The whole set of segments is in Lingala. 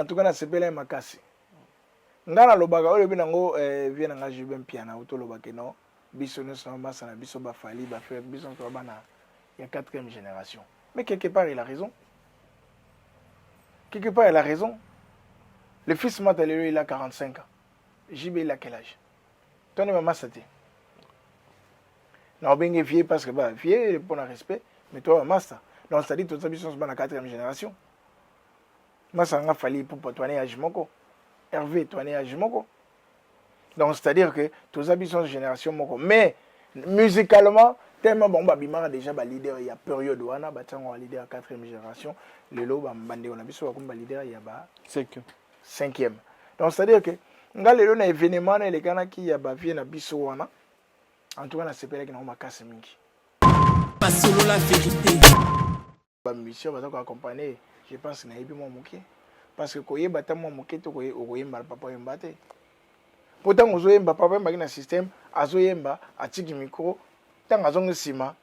en tout cas na sepela ye makasi nga na lobaka oyo lobi nango eh, vie na nga jube mpiana uto lobaka no biso nyonso na masa na biso bafali bafe biso nyonso bana ya quatrième génération mais quelque part il a raison quelque part il a raison le fils mata lelo il a 45 ans jb il a quel âge toni mamasa te na obenge vieux parce que ba vieux mpo na respect mais toi mamasa donc c'est-à-dire toza biso nyonso bana quatrième génération masanga fali ipupa toane age moko herve toane age moko donc c'est à dire que toza biso génération moko mais musicalement tellement bango babimaka déjà baleader ya période wana batiango baleader ya quatrième génération lelo bandeko na biso bakomi baleader ya ba cinquième donc c'est à dire que nga lelo na événement wana elekanaki ya bavie na biso wana en tout cas nasepelaki nango makasi mingi basolola verité ba musiciens baza ko accompagner je pense na yebi mwa moke parce que koyeba ta mwa moke to okoyemba papa yemba te mpo ntango ozoyemba papa yembaki na système azoyemba atiki micro ntango azongi nsima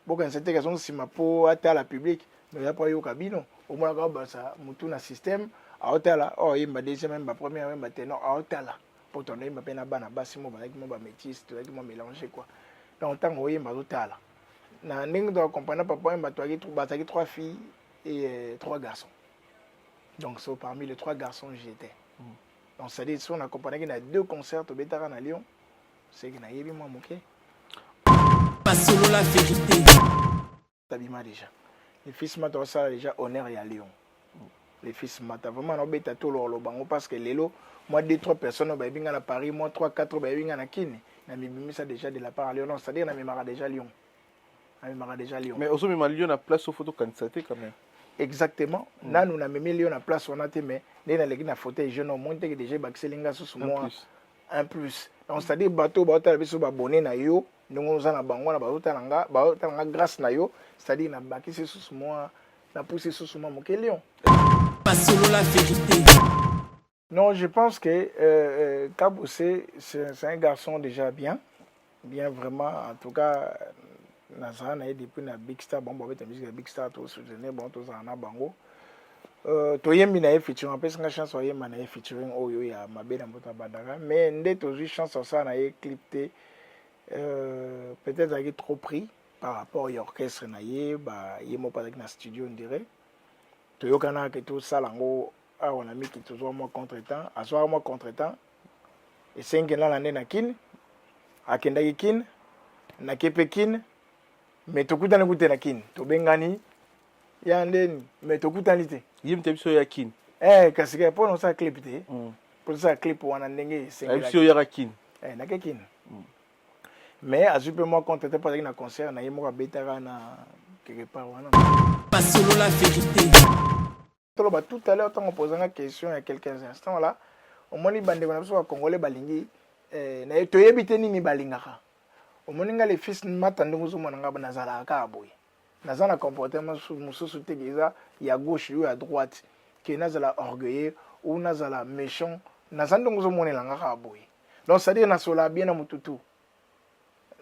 bokanisa teke azongi nsima mpo atala public mais ya mpo ayoka bino omonaka obasa motu na système aotala oyemba oh, deuxième yemba première yemba tenor aotala mpo to nayemba mpe na bana basi mo bazalaki mo bamétise tozalaki mo mélange kua donc ntango oyemba azotala na ndenge toka comprendre papa oyemba bazalaki trois filles et euh, trois garçons donc so parmi les trois garçons j'étais mm. donc ça dit so na comprenaki na deux concerts tobetaka na lyon seke nayebi mwa moke basolola verité abima deja le fils mata osala deja honneur ya lion le fils mata vraiment naobeta tolo oloba ngo parce que lelo mwa 2 3 personnes bayebi nga na paris mwa 3 4 bayebi nga na kine na mibimisa deja de la part ya lion non c'est à dire na memaka deja lion na memaka deja lion mais ozomema lion na place ofo tokanisa te quand même exactement mm. nanu na meme lion na place wana te mais ndenge naleki na fauteuil jeune homme moni teke deja ebakiseli nga susu mwa un plus donc c'est à dire bato baotala biso babone na yo mm. ndenge oza na bango wana bazotala na nga bazotala nga grâce na yo c'est-à-dire nabakisi lisusu mwa napusi lisusu mwa moke lion basolola verité non je pense que euh, euh, kabose c'est un garçon déjà bien bien vraiment en tout cas nazala na ye depuis na big star bango babeta musique ya big star tosoutenir bango tozala na bango Euh, toyembi na ye featuring apesi nga chance oyemba na ye featuring oyo ya mabe na mboto abandaka mais nde tozwi chance osala na ye clip te euh, peut-être azalaki trop pris par rapport ya orchestre na ye ba ye moko azalaki na studio ndire toyokanaka ke tosala yango awa na miki tozwa mwa contre temps azwaka mwa contre temps esengi nana nde na kine akendaki kine nake mpe kine me tokutani kute na kine tobengani ya ndeni mais tokutani te yim te biso ya kin eh kasi ka pona sa clip te mm. pona sa clip wana ndenge esengeli biso ya kin eh na ke kin mm. mais azui pe moi compte te pazaki na concert na ye moko abetaka na quelque part wana basolola verite toloba tout à l'heure ntango opozanga question ya quelques instants wala omoni bandeko na biso ba congolais balingi eh, na toyebi te nini balingaka omoni nga le fils mata ndenge ozomona nga nazalaka kaka boye naza na comportement mosusu te eza ya gauche yo ya droite ke nazala orgueilleux ou nazala méchant naza ndenge ozomonela nga kaka boye donc c'est-à-dire nasolaka bien na motutu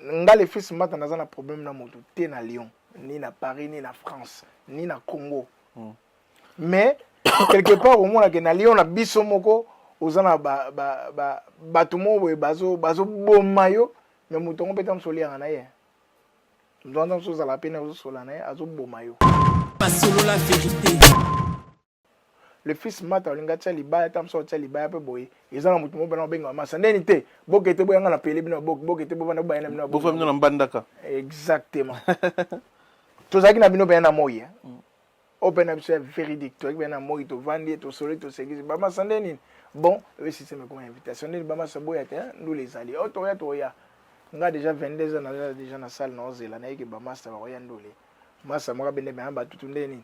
nga le fils mbata naza na problème na moto te na lyon ni na paris ni na france ni na congo mm. mais quelque part omonake na lyon na biso moko oza na bato ba, ba, ba, moko boye bazoboma yo me moto yango mpe ta moso oliaka na ye moto wana ta moso ozalaka mpe na ozosola na ye azoboma yo basolola verité le fils mata olingi atia libaya ta mosusu atia libaya mpe boye eza na moto moko bana obenga masa ndeni te boke te boyanga na pele bino boke boke te bovanda bobayana bino bofa bino na mbandaka exactement tozalaki na bino mpenza na moi eh. mm. oyo mpe na biso ya véridique tozalaki mpenza na moi tovandi tosoli tosekisi bamasa nde nini bon oyo système ekoma invitation ndeni bamasa boya te eh, ndula ezali oyo oh, toya toya nga déjà 22 ans naza déjà na salle naozela nayeke bamasa bakoya ndule masa moko abende mpenza batutu nde nini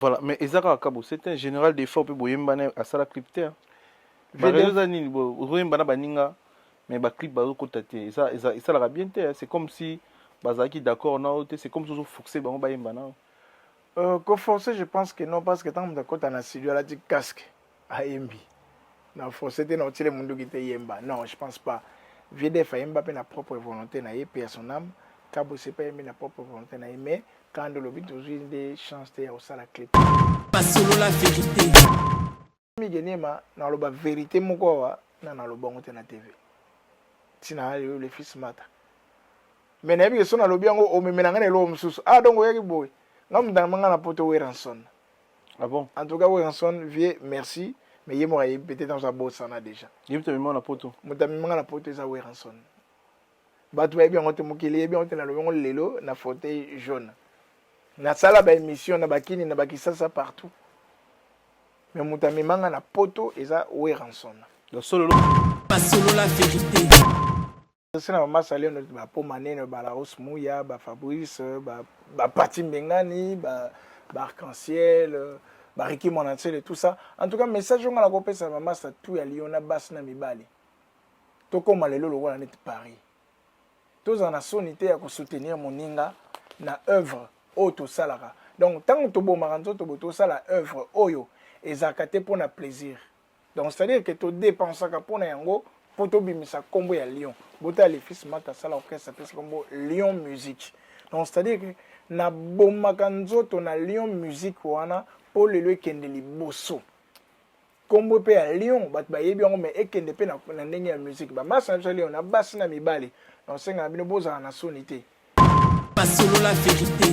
Voilà, mais eza kaka kabo, c'est un général d'effort pe boyemba na asala clip te. Ba raison za nini bo boyemba na baninga mais ba clip bazo kota te. Eza eza esalaka bien te, c'est comme si bazalaki d'accord na yo te, c'est comme si ozo forcer bango bayemba na yo. Euh, ko forcer je pense que non parce que tant que mtakota na studio alati casque. ayembi na français te na otile munduki te yemba non je pense pas vieux def ayemba mpe na propre volonté na ye mpe à son âme kabose mpe ayembi na propre volonté na ye mais kanda olobi tozwi nde chance te ya kosala clip basolola verité migenema naloba verité moko awa na naloba yango te na tv ntina ayo le fils mata mais nayebi ke so nalobi yango omemela ngai na eloko mosusu ah donc oyaki boye ngai motanga manga na poto weranson Ah bon? En tout cas, Wilson, vieux, merci. Mais yemo ayebi peut-être aza bosana déjà. Yebi to mimona poto. Muta mimona poto eza Wilson. Bato bayebi yango te mokili yebi yango te nalobi yango lelo na fauteuil jaune. Nasala ba émission na bakini na bakisasa partout. Mais muta mimanga na poto eza Wilson. Solo. Basolo la vérité. Merci na mama Saleno ba poma nene ba la hausse muya ba Fabrice ba ba Pati Mbengani ba ba arc-en-ciel ba Ricky Monantsele tout ça en tout cas message nga na ko pesa mama sa tout ya Lyon na bas na mibali to koma lelo lokola net Paris tozala na soni te ya ko soutenir moninga na œuvre oyo tosalaka donc ntango tobomaka nzoto bo tosala œuvre oyo ezalaka te mpo na plaisir donc c'est à dire que to dépensaka pona yango po tobimisa kombo ya lion bota le fils mata sala orchestre apesi kombo lion musique donc c'est à dire que nabomaka nzoto na lion musique wana po lelo ekende liboso kombo pe ya lion bato bayebi yango mais ekende pe na ndenge ya musique bamasa na biso ya lion na basi na mibali donc sengaka bino bozala na soni te basolola verite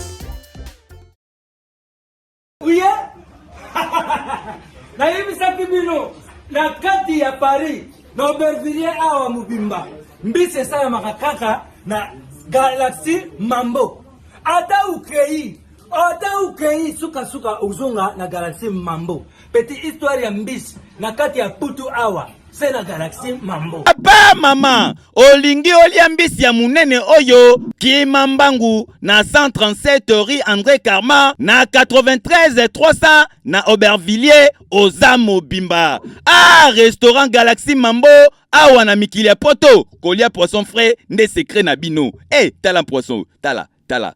Uye nayebisaki bino na kati ya Paris na Aubervilliers awa mobimba mbisi esalamaka kaka na galaxie mambo ata ukei ata ukei sukasuka ozonga na galaxie mambo Petit histoire ya mbisi na kati ya putu awa se na galaxie mambo. Papa mama, olingi olia mbisi ya munene oyo kima mbangu na 137 rue André Karma na 93 300 na Aubervilliers oza mobimba. Ah, restaurant Galaxie Mambo awa na mikili ya poto kolia poisson frais nde secret na bino. Eh, hey, tala poisson, tala, tala.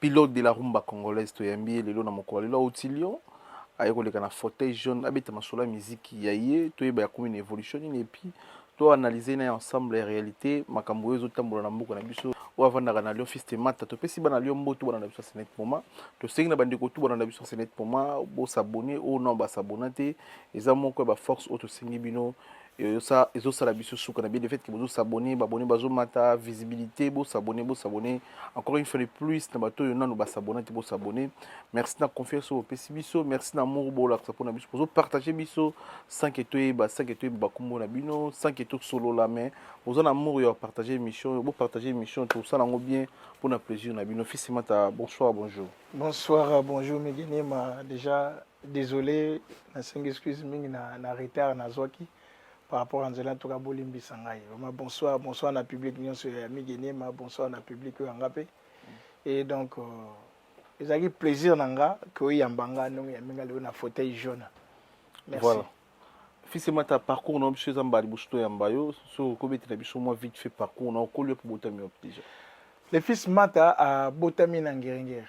Pilote de la rumba congolaise toyambi ye lelo na mokolo ya lelo auti Lyon aye koleka na fauteuil jaune abeta masolo ya miziki ya ye toyeba akomi na evolution nini epuis to analyse na ye ensemble ya realite makambo oyo ezotambola na mboka na biso oyo avandaka na Lyon fils de Mata topesi bana Lyon mbotu bana na biso ya Senet Poma tosengi na bandeko tu bana na biso ya Senet Poma bosabone oyo nao basabona te eza moko ya baforce oyo tosengi bino Yo ça ezo sala biso suka na bien le fait que bozo s'abonner, ba abonner bazo mata visibilité, bo s'abonner, bo s'abonner. Encore une fois de plus na bato yo nanu ba s'abonner, bo s'abonner. Merci na confiance au pesi biso, merci na amour bo la pour na biso. Bozo partager biso sans que toi ba sans que toi ba kombo na bino, sans que tout solo la mais bozo na amour yo partager émission, bo partager émission tout ça nango bien pour na plaisir na bino. Fils mata bonsoir, bonjour. Bonsoir, bonjour Megenema déjà Desole nasengi excuse mingi na, na retard nazwaki par rapport à nzela ntuka bolimbisa ngai vraiment bonsoir bonsoir na public nyonso ya migi niema bonsoir na public oyo yanga mpe et donc euh, ezalaki plaisir na nga ke oyamba nga ndongo ya minga lelo na fauteuil jaune merci voilà. fils emata parcours na biso eza mbala liboso toyamba yo soki okobetela biso mwa vite fait parcours na okoli yo mpe botami wapi déjà le fils mata abotami na ngeringeri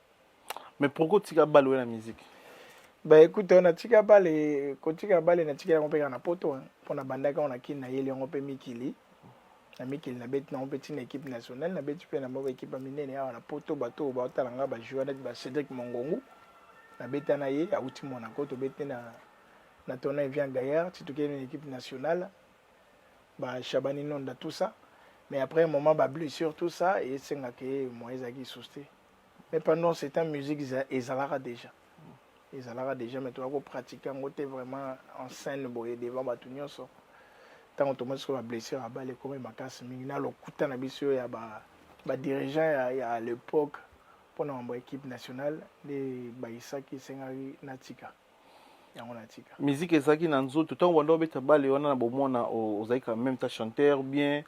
mais pourquoi otika bale oye na musique ba écoute on atika bale kotika bale na tika yango mpe kaka na poto mpo na bandaki yango na kini nayeli yango mpe mikili na mikili nabeti nango mpe ntina équipe nationale nabeti mpe na moko équipe ya minene awa na poto bato oyo baotala ngai bajoueur neti ba cédric mongongu nabeta na ye auti monaco tobeti na na tournoi vient gaillard ti tokei na équipe nationale ba shabani nonda tout ça mais après moment ba blessure tout ça esengaka ye moyen ezalaki sous te mais pendant ce temps musique ezalaka déjà ezalaka déjà mais toza kopratique yango te vraiment en scène boye devant bato nyonso ntango tomoni soki bablessure ya bale ekomi makasi mingi na lokuta na biso ya badirigeant ya, ya l'époque mpo na mambo ya équipe nationale nde bayisaki esengaki natika yango na tika musique ezalaki na nzoto ntango banda obeta bale wana na bomona ozali quand même ta chanteur bien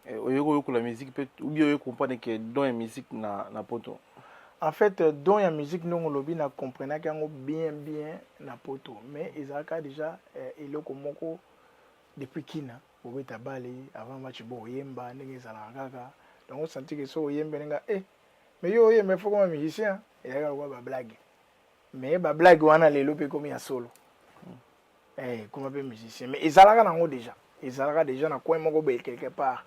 eh, oyoki oyokola musique mpe ubie oyoki comprendre ke don ya musique na, na poto en fait euh, don ya musique ndongo olobi na comprenaki yango bien bien na poto mais ezalaka déjà eh, eloko moko depuis kina obeta bale avant match bo oyemba ndenge ezalaka kaka donc osantike so oyembe ndenge eh mais yo oyemba ifo koma musicien eyaka lokola bablague mais ba blague wana lelo pe komi ya solo hmm. eh kuma pe musicien mais ezalaka nango déjà ezalaka déjà na coin moko boye quelque part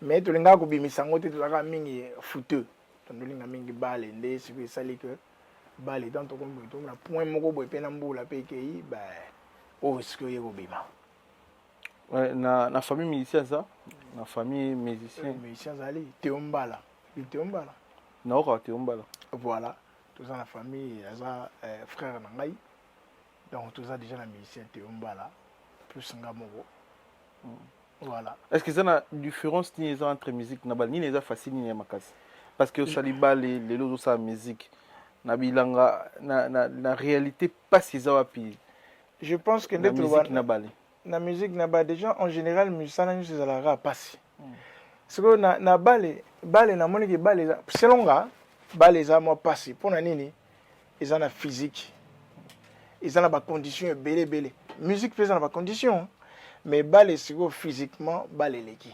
mais tolingaka kobimisa yango te tozalaka mingi fouteux tondolinga mingi bale nde soki esali que bale tant tokomi boye tomona point moko boye mpe na mbula mpe ekei ba oyo soki oye kobima na, na famille musicien aza na famille musicien musicien azali teombala teombala naokaka teombala voilà toza na famille aza eh, frère na ngai donc toza déjà na musicien te ombala plus nga moko mm. voilà est ce que eza na différence nini eza entre musique na bale nini eza facile nini ya makasi parce que osali bale lelo ozosala musique na bilanga na, na, na réalité mpasi eza wapi je pense que nde toloba na bale na musique na ba déjà en général musala nyonso ezalaka pasi sikoyo na, na bale bale namoni ke bale eza selon nga bale eza mwa pasi mpo na nini eza na physique eza na bacondition ebele ebele musique mpe eza na bacondition mais bale sikoyo physiquement bale eleki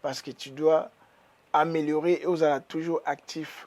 parce que tu dois améliorer et ozala toujours actif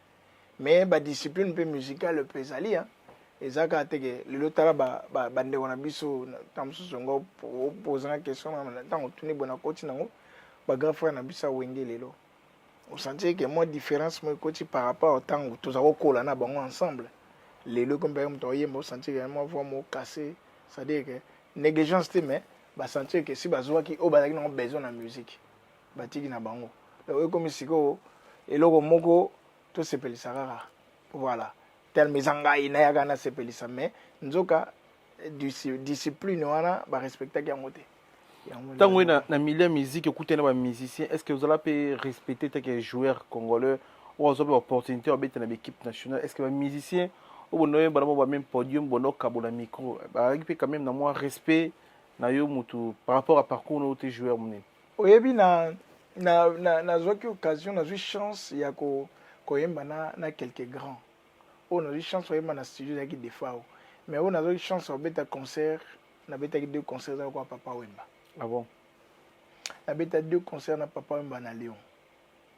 mais ba discipline mpe musicale mpe ezali hein. eza kaka te ke lelo tala bandeko na biso ntango mosusu yango opozanga question ntango otuni boye nakoti nango bagrand frère na biso ya wenge lelo osantie ke mwa différence moko ekoti par rapport ntango toza kokola na bango ensemble lelo ekombaka moto akoyemba osantie ke mwa voi moko casse c'est-à-dire ke négligence te mais basantie ke si bazwaki oyo bazalaki nango besoin na musique batiki na bango donc ekomi sikoyo eloko moko tosepelisa kaka voilà terme eza ngai nayaka nasepelisa mais nzoka discipline wana barespectaki yango te ntango oye na milieu ya musique okutani na bamusicien est ce que ozala mpe respecte teke joueur congolais oyo azwa mpe baopportunité ya babeta na baéquipe nationale est ce que bamusicien oyo bondo oyebana mo bameme podium bondo okabola micro bazalaki mpe quand même na mwa respect na yo motu par rapport ya parcours na yo te joueur monene oyebi na na na nazwaki occasion nazwi chance ya ko koyemba na na quelques grands oyo nazwi chance koyemba na studio ezalaki defao mais oyo nazwaki chance kobeta concert nabetaki deux concert ezalaki kwa papa wemba ah bon nabeta deux concert na papa wemba na lyon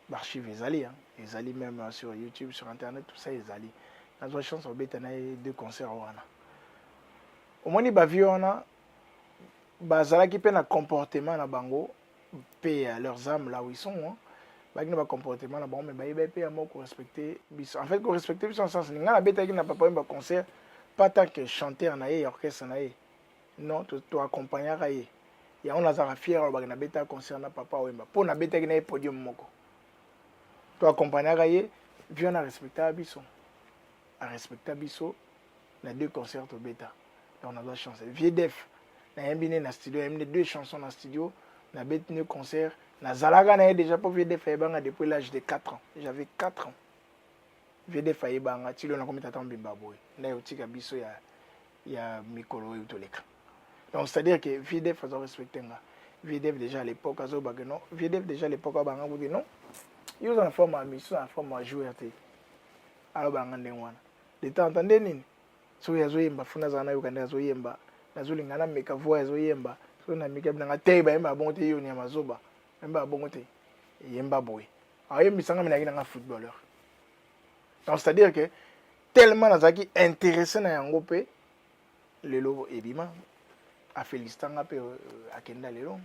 baarchive ezali hein? ezali même euh, sur youtube sur internet tout ça ezali nazwa chance kobeta na ye deux concert wana omoni bavie wana bazalaki mpe na comportement na bango mpe ya leurs âmes là où ils sont hein. bakini ba comportement na bango me bayebaki mpe yango korespecte biso en fait korespecte biso na sens nini ngai nabetaki na papa yemba concert pas tant que chanteur na ye ya orchestre na ye non toaccompagnaka ye yango nazalaka fier alobaki nabetaka concert na papa wemba mpo nabetaki na ye podium moko toaccompagnaka ye vieux na respectaka biso a respecta biso na deux concerts tobeta donc nazwa chance vieux def nayembi ne na studio ayembi ne deux chansons na studio nabeti ne concert nazalaka na ye déjà mpo vieux def ayebanga depuis l'âge de 4 ans j'avais 4 ans vieux def ayebanga tilo nakomi tata mobimba boye nde otika biso ya, ya mikolo oyo toleka donc c'est à dire que vieux def azo respecte nga vieux def déjà à l'époque azobake non vieux def déjà à l'époque abanga kuti non yo oza na forme ya misu na forme ya joueur te aloba nanga ndenge wana de temps en temps nde nini soki azoyemba funa azala nayoka nde azoyemba nazolinga nameka voi azoyemba soki nameki abi nanga te bayembaka bongo te yo onyama zoba bayembaka bongo te eyemba boye ayembisanga mi nayaki nanga footballeur donc c'est à dire que tellement nazalaki intéressé na yango mpe lelo ebima afelicitanga mpe euh, akenda lelo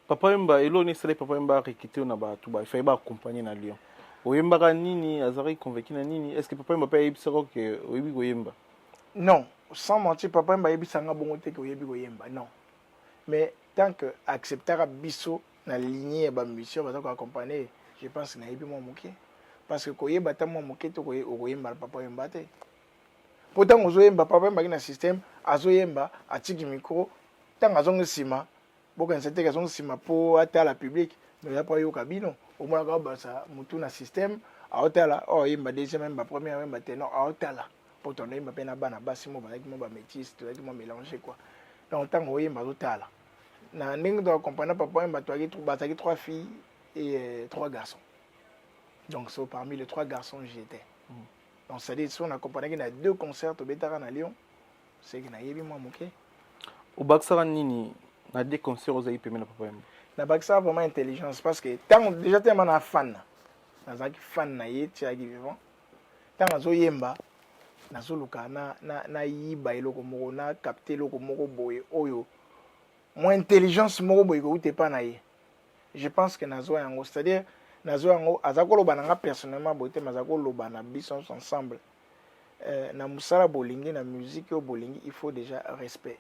Papa Wemba, eloko nini esali Papa Wemba arekite na bato ba ifai baakompagne na Lyon? Oyembaka nini? Azalaki convaincu na nini? Est-ce que Papa Wemba mpe ayebisaka yo ke oyebi koyemba? Non, sans mentir, Papa Wemba ayebisaka nga bongo te ke oyebi koyemba, non. Mais tant que acceptaka biso na lignee ya ba musiciens baza ko accompagner, je pense nayebi mwa moke. Parce que koyeba ata mwa moke te okoyemba na Papa Wemba te. mpo ntango ozoyemba papa yembaki na systeme azoyemba atiki micro ntango azongi nsima bokanisa teke azongi nsima mpo atala public me ya mpo ayoka bino omonaka obasa motu na systeme aotala oyo oh, ayemba deuxième ayemba première ayemba tenor aotala mpo tona yemba mpe na bana basi mo bazalaki mo bamétise tozalaki mo mélange kua donc ntango oyemba azotala na ndenge toka comprendre papa yemba bazalaki trois filles et euh, trois garçons donc so parmi les trois garçons j'étais mm. donc c'est à dire soki na companaki na deux concert tobetaka na lyon seki nayebi mwa moke obakisaka nini na deux concert ozalaki pembe na papa yembo nabakisaka vraiment intelligence parce que ntango déjà tellement na fan nazalaki fan na ye tiaki vivant ntango azoyemba nazoluka nayiba eloko moko na capte eloko moko boye oyo mwa intelligence moko boye kouta epa na ye je pense que nazwa yango c'est à dire nazwa yango aza koloba na nga personnellement boye te mais aza koloba na biso nyonso ensemble euh, na mosala bolingi na musique oyo bolingi il faut déjà respect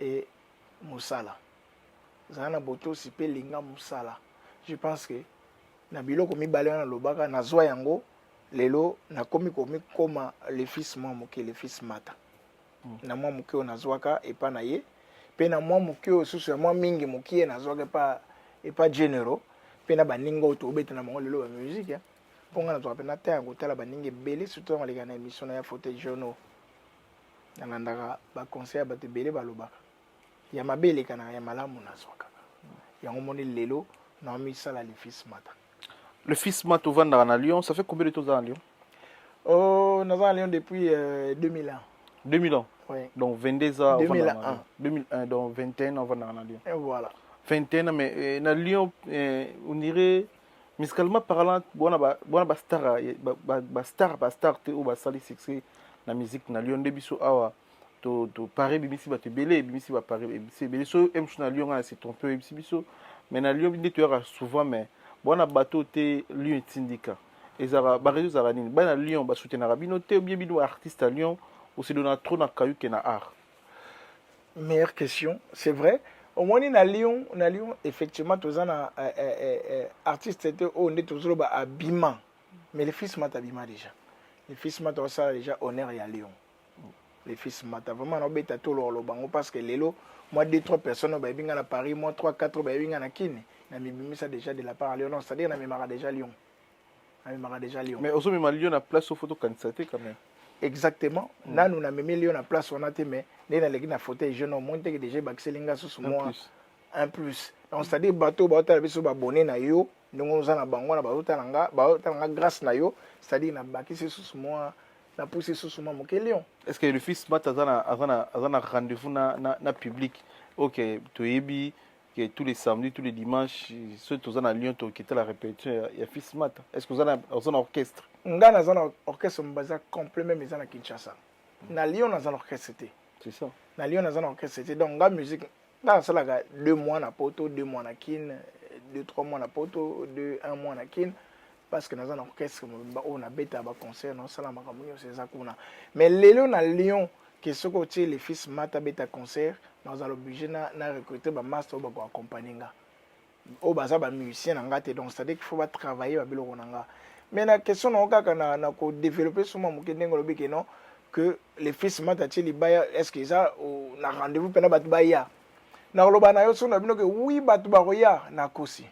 e mosala zala na botosi mpe linga mosala je pense que na biloko mibale wana nalobaka nazwa yango lelo nakomi komikoma le fils mwa moke le fils mata mm. na mwa moke oyo nazwaka epa na ye mpe na mwa moke oyo susu ya mwa mingi mokie nazwaka epa epa genero mpe na baninga oyo tobeta na bango lelo ba musique ya mpo ngai nazwaka mpe na temps ya kotala baninga ebele surtout yango aleka na émission na ya fauteuil journaux nalandaka baconseil ya bato ebele balobaka ya mabe elekanaka ya malamu nazwaka yango moni lelo naomisala le fils mata le fils mata ovandaka na lyon ça fait combien de temps oza na lyon Oh, naza na Lyon depuis euh, 2000 ans. 2000 ans Oui. donc 22 ans 2001. ovandaka na Lyon. 2001 donc 21 ans ovandaka na lyon Et voilà. 21 ans mais euh, na lyon euh, on dirait musicalement parlant bona ba- bona bastar ya- ba- ba- bastar bastar te oyo basali succès na musique na lyon nde biso awa to to pare ebimisi bato ebele ebimisi bapare ebimisi ebele so emsho na lyon ngai na se trompe oyebisi biso mais na lyon nde toyaka souvent mais bwana bato te lyon etindika ezalaka barezo ezalaka nini bana lyon basutenaka bino te obie bino baartiste ya lyon osedona trop na kayuke na art meilleure question c'est vrai omoni na lyon na lyon effectivement toza na eh, eh, eh, eh, artiste te oyo nde tozoloba abima mais le fils mata abima déjà le fils mata osala déjà honneur ya lyon les fils mata vraiment na obeta to lolo bango parce que lelo moi deux trois personnes ba binga na Paris moi trois quatre ba binga na Kin na mibimisa déjà de la part à Lyon non c'est-à-dire na memara déjà Lyon na memara déjà Lyon mais ozo mema Lyon na place au photo kanisa te quand même exactement mm. nanu na meme Lyon na place wana te mais nde na leki na fauteuil jeune au moins te que déjà bakiseli nga susu moi un plus donc c'est-à-dire bateau ba otala biso ba bonnet na yo ndenge oza na bango na ba otala nga ba otala nga grâce na yo c'est-à-dire na bakisi susu moi na pusi lisusu mwa moke lion est ce que le fils bat aza na aza na aza na rendez-vous na na, na public ok toyebi que tous les samedis tous les dimanches soki toza na lion tokita la répétition ya, ya fils mata est ce que oza na oza na orchestre nga naza na orchestre mobaza complet meme eza na kinshasa na lion naza na orchestre te c'est ça na lion naza na orchestre te donc nga musique nga nasalaka deux mois na poto deux mois na kin deux trois mois na poto deux un mois na kin parce que naza na orchestre mobimba oyo nabeta baconcert naosala makambo nyonso eza kuna mais lelo na lyon ke soki otie le fils mata abeta concert nazala oblige na, na recrute bamaster oyo bakoaccompagne nga oyo baza ba musicien na nga te donc c'est à dire qu'il faut ba travailler ba biloko na nga mais na question na kaka na na ko développer sur moi moke ndenge lobi que non que les fils mata tie libaya est ce que eza na rendez-vous pena bato baya na koloba na yo soki na bino ke oui bato bakoya na kosi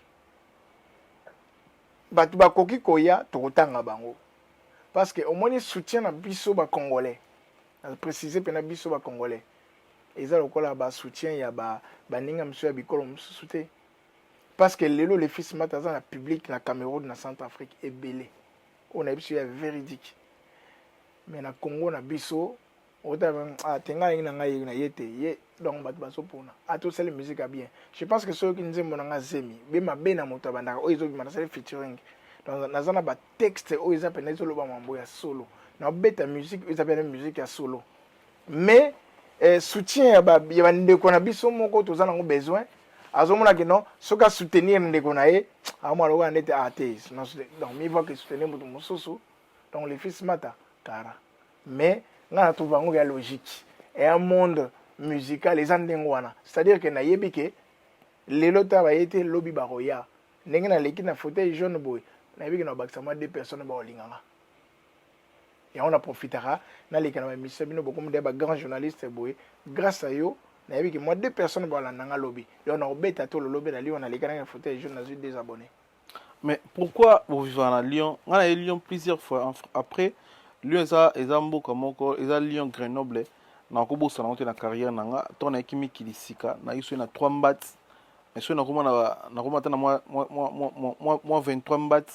bato bakoki koya tokotanga bango parce que omoni soutien na biso ba congolais na préciser pena biso ba congolais eza lokola ba soutien ya ba baninga mosusu ya bikolo mosusu te parce que lelo le fils mata aza na public na Cameroun na Centre Afrique ebele oyo na biso ya véridique mais na Congo na biso otaba ah tenga alingi na ngai na ye te ye donc bato bazopona ata osali musique ya bien je pense que soki nzembo na ngai zemi be mabe na moto abandaka oyo ezobima nasali featuring donc naza na batexte oyo eza mpenza ezolobama mambo ya solo nabeta musique oyo eza mpenza musique ya solo mais eh, soutien ya ba ya bandeko na biso moko toza nango besoin azomona ke non soki asoutenir ndeko na ye amona lokola ndete atheis donc mivo ake soutenir moto mosusu donc le fils mata kara mais ngai na trouve yango ya logique eya monde musical eza ndenge wana c'est à dire ke nayebi ke lelo ta baye te lobi bakoya ndenge naleki na fauteuil jaune boye nayebi ke na bakisa mwa deux personnes bakolinganga yango na profitaka naleka na bamisa bino bokomi deya bagrand journaliste boye grâce a yo nayebi ke mwa deux personne balanda nga lobi donc nakobeta to lolobi na lyon naleka nanga fauteuil ya jour nazwi deux abonné mais pourquoi bovivaka na lyon nga naye lyon plusieurs fois après lyon eza eza mboka moko eza lyon grenoble nakobosana yango te na carrière na nga ntango nayaki mikili sika nayaki soki na 3 mbati mais soki nakoma ata na mwa 23 mbati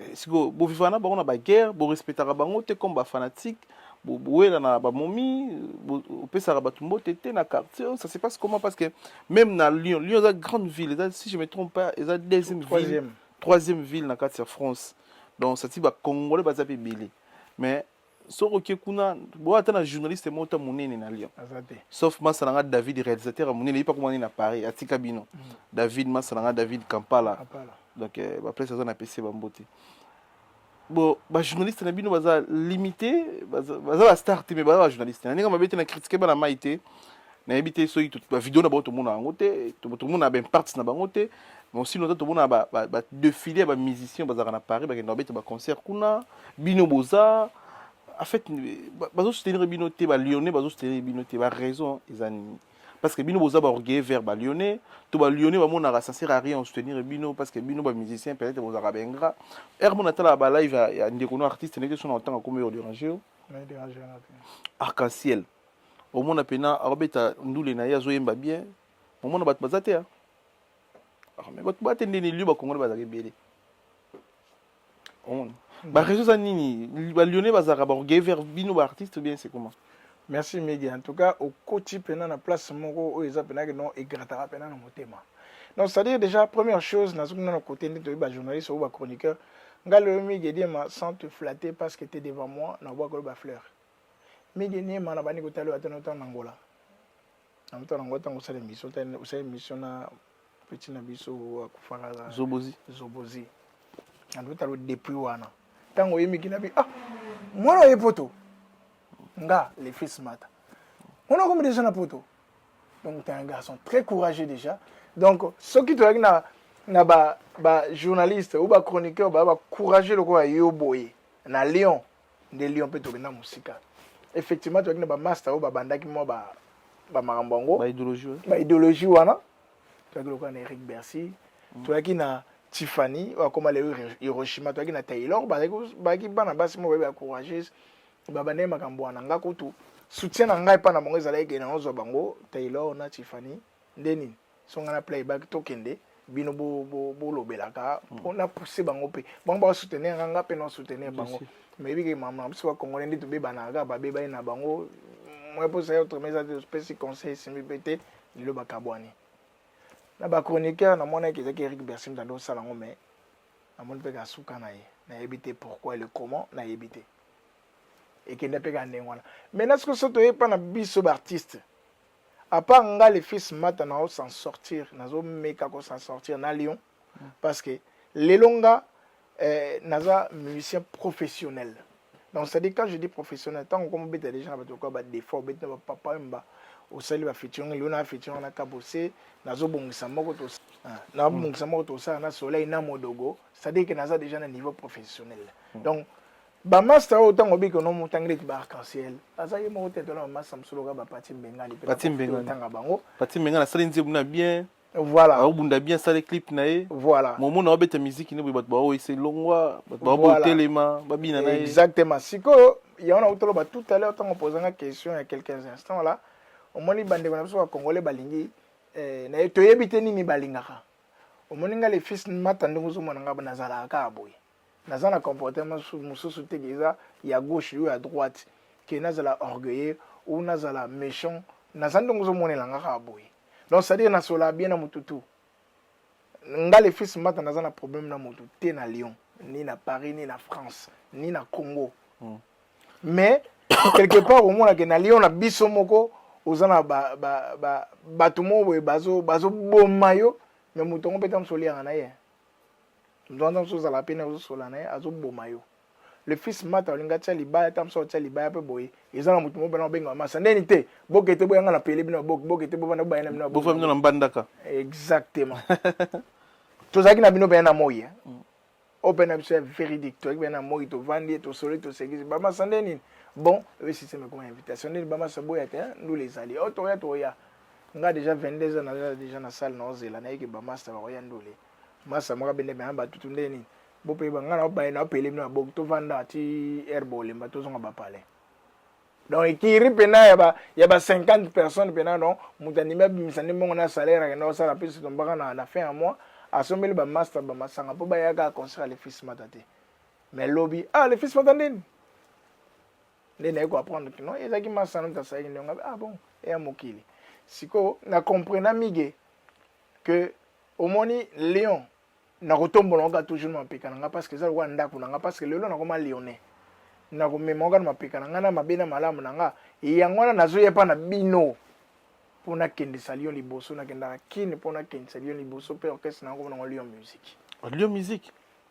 Eh, siko bovivaka na bango na baguerre borespectaka bango te comme bafanatique bowela na bamomi opesaka bato mbote te na quartier ça se passe comment parce que même na lyon lyon eza grande ville eza si je me trompe pas eza deuxième ville troisième ville na kati ya france donc sati bacongolais baza mpe ebele mais soki oke kuna boya ata na journaliste moko ta monene na lyon sauf masa na nga david réalisateur ya monene ye mpe akomani na paris atika bino mm. david masa na nga david kampala donc euh, baplace aza na pese bambote bon bajournaliste na bino baza limité baza bastar te mais baza bajournaliste na ndenge mabe te na kritike bana mai te nayebi te soki bavideo na bango tomonaka yango te tomonaka baimparts na bango te mais osino ata tomonaka badefile ya bamusicien bazalaka na paris bakenda babeta baconcert kuna bino boza en fait bazosoutenir bino te balyonnais bazosoutenir bino te baraison eza nini parce que bino boza baorgueille vers balyonnais to balyonnais bamonaka ça sert à rien osoutenir bino parce que bino bamusicien peut-être bozalaka baingra ere mpo natalaka balive ya ndeko no artiste ndenge so na otanga komi oyo derange yo arc-en-ciel ah, omona pena akobeta ndule na ye azoyemba bien omona bato baza te me bato bate nde nelio bakongole bazalaka ebele omona hmm. bareseau eza nini balyonnais bazalaka baorgueil vers bino baartiste bien c'est comment merci midi en tout cas okoti mpena na place moko oyo eza mpenaki non egrataka mpena na motema donc c'est à dire déjà première chose nazoki nano kote nde toyebi bajournaliste oyo bachroniqueur ngai loyo migi ediema sans te flatter parce que te devant moi na obwakolo bafleur mege nie mana bani kotali wata nota na ngola na nota na ngola tango osala emission ta osala emission na petit na biso akufaka la zobozi zobozi na nota lo depuis wana tango oyemi kina bi ah mwana oye poto nga le fils mata mwana okomi déjà na poto donc tu es un garçon très courageux déjà donc soki tozalaki na na ba ba journaliste ou ba chroniqueur ba ba courageux lokola yo boye na Lyon nde lyon mpe tokenda mosika effectivement tozalaki na bamasta oyo babandaki mwa bamakambo yango baideologie wana tozalaki lokola na eric bercy mm. tozalaki na tiffany oyo akoma leo hiroshima tozalaki na taylor bazalaki bana basi moko bayebi bacourageuse babandaki makambo wana nga kutu soutien na ngai epai na bango ezalaki kende naozwa bango taylor na tiffany nde nini songa na playback tokende bino bolobelaka bo, bo hmm. mpo na pousse bango mpe bango bakosoutenir nga nga mpe na soutenir bango meyebi ke mama na biso bakongole nde tobebanaka babebani na bango moye mposa ya autrement eza te topesi conseil esimbi mpe te lelo bakabwani na bachroniqueur namonaki ezalaki eric bersim tande osala yango mai namoni mpe kasuka na ye nayebi te pourquoi le comment nayebi te ekende mpe ka ndenge wana maintenant soki so toyebi mpa na biso baartiste à part nga le fils mata na o s'en sortir nazo meka ko s'en sortir na Lyon mm. parce que lelo nga eh, naza musicien professionnel donc c'est-à-dire quand je dis professionnel ntango okoma obeta deja na bato lokola badefa obeti na bapapa oyo mba osali bafeaturing lelo na bafeaturing na kabose nazobongisa moko ah, nabongisa moko tosala na soleil na modogo c'est-à-dire que naza deja na niveau professionnel mm. donc Ba master oyo tango biki no mutangile ki ba arc-en-ciel. Aza ye moko tete na master msoloka ba pati mbengani pe. Pati mbengani tanga bango. Pati mbengani sali nzebu na bien. Voilà. Au bunda bien sali clip na ye. Voilà. Momo na obeta musique ni batu ba oyo c'est longwa, batu ba bo telema, ba bina na ye. Exactement. Siko ya wana utolo ba tout à l'heure tango posanga question ya quelques instants là. Omoni bandeko na biso ba congolais balingi eh, na ye toyebi te nini balingaka. Omoni nga le fils mata ndenge ozomona nga nazalaka kaka boye. naza na comportement mosusu te eza ya gauche yo ya droite ke nazala orgueilleux ou nazala méchant naza ndenge ozomonela nga kaka boye donc c'est-à-dire nasola bien na motu tout nga le fils mbata naza na problème na motu te na lyon ni na paris ni na france ni na congo mm. mais quelque part omonake na lyon na biso moko oza na bato ba, ba, ba, moko boye bazoboma yo me moto yango mpe ta mosoliaka na ye nzwanza mosusu ozala mpe na ozosola na ye azoboma yo le fils mata olingi atya libaya ata mosusu atya libaya mpe boye eza na moto mobana obenga masa ndeni te boke te boyanga na pele bino boke boke te bovanda bobayana bino bofa bino na mbandaka exactement tozalaki na bino mpenza na moi eh. mm. oyo mpe na biso ya véridique tozalaki mpenza na moi tovandi tosoli tosekisi bamasa nde nini bon oyo système ekoma invitation nini bamasa boya te eh, ndula ezali oyo oh, toya toya nga déjà 22 ans naza déjà na salle naozela nayeke bamasta bakoya ndule masa mwa bende bana batutu nde nini bope banga na baye na pele na bok to vanda ti air bolemba to zonga bapale donc ekiri mpena ya ba ya ba 50 personnes mpena donc moto andimi abimisa nde mbongo na salaire akenda kosala mpe sitombaka na na fin ya mois asombeli ba master ba masanga mpo bayaka concert ya lefis mata te mais lobi ah lefis mata ndeni nde naye ko apprendre kino ezalaki masana moto asalaki ndenge ah bon eya mokili sikoyo na comprena mige que omoni lion nakotombola ngo kaka toujours na mapeka na nga parce que eza lokola ndako na nga parce que lelo nakoma lyonnais nakomema ngo kaka na mapeka na nga na mabe na malamu na nga yango wana nazoya epa na bino mpo nakendisa lion liboso nakendaka kine mpo nakendisa lion liboso mpe orchestre na yango mpo nango lion musique lion musique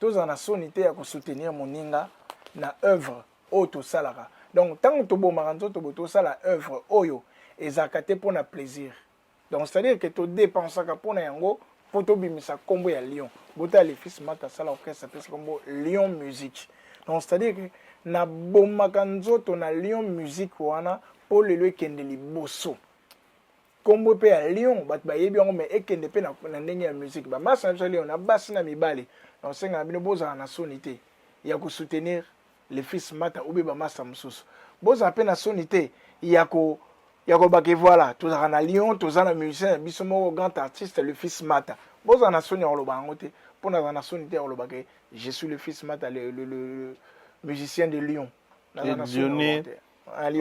tozala na soni te ya kosoutenir moninga na œuvre oyo tosalaka donc ntango tobomaka nzoto bo tosala œuvre oyo ezalaka te mpo na plaisir donc c'est-à-dire ke todepensaka mpo na yango mpo tobimisa nkombo ya lion botala lefis mata asala orchestre apesi nkombo lion musique donc c'est-à-dire ke nabomaka nzoto na lion musique wana mpo lelo ekende liboso kombo pe ya lion bato bayebi yango mais ekende pe na, na ndenge ya musique ba masa na biso lion na basi na mibali na osenga na bino bozala na soni te ya ko soutenir le fils mata obe ba masa mosusu bozala pe na soni te ya ko ya ko bake voilà tozalaka na lion toza na musicien na biso moko grand artiste le fils mata bozala na soni ya koloba yango te mpo nazala na soni te ya koloba ke je suis le fils mata le, le, le, le musicien de lion nazala na soni ya koloba te